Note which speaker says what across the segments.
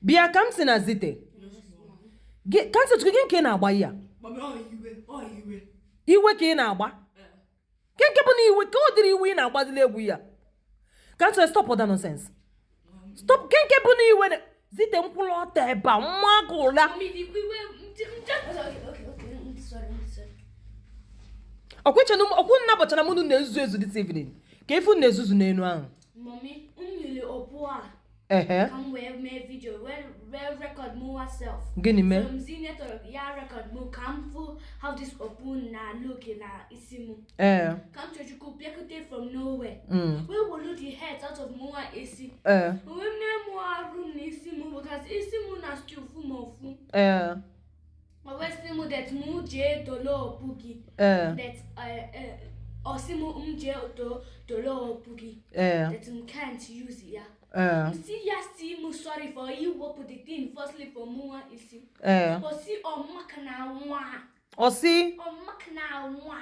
Speaker 1: bịa Kamsi na Zite Gị- Kamsichukwu gịnị ka ị na-agba ya Mami, ọ iwe,
Speaker 2: ọ iwe. iwe ka ị
Speaker 1: na-agba kee nke bụ na iwe ka ọ dịrị iwe ị na-agbazili egwu ya Kamsi stop all that nonsense stop kee nke bụ na iwe na- Zite m kwụlụ ọtọ ebe a m maa gị ụla Mami, di qui we nje nje. Okay, okay, okay. I'm
Speaker 2: sorry, I'm sorry. ọkwụchenụ
Speaker 1: m okwu unu naabọ chara m unu na-ezuzu ezu this evening kee ife unu na-ezuzu n'enu ahụ Mami, m
Speaker 2: wele okpu a. Ehe. Ka m wee mee video wee wee record mụwa self. Gịnị mee? So m
Speaker 1: sị Neto ya
Speaker 2: record mụ ka m fụ how this okpu na-look na isi mụ. Ee. Kamsiyọchukwu bịakute from nowhere. Mm. Wee wolu the hat out of mụwa isi. Ee. Wee mee mụ arụ na isi mụ because isi mụ na-still fụ m ụfụ. Ee. Ma wee sị m that m jee tolo okpu gị. Ee. That eh, eh, ọ sị m m jee to tolo okpu gị. Ee. That m can't use ya. Ee. M sị ya sị m sorry for iwepụ the thing firstly for mụwa isi. Ee. Ọ sị
Speaker 1: ọ maka na nwa. Ọ si. Ọ
Speaker 2: maka na nwa.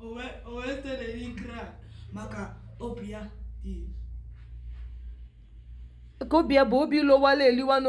Speaker 2: o wee tere na-cry maka obi ya
Speaker 1: dị ka obi ya
Speaker 2: bụ obi
Speaker 1: lowala eliwa na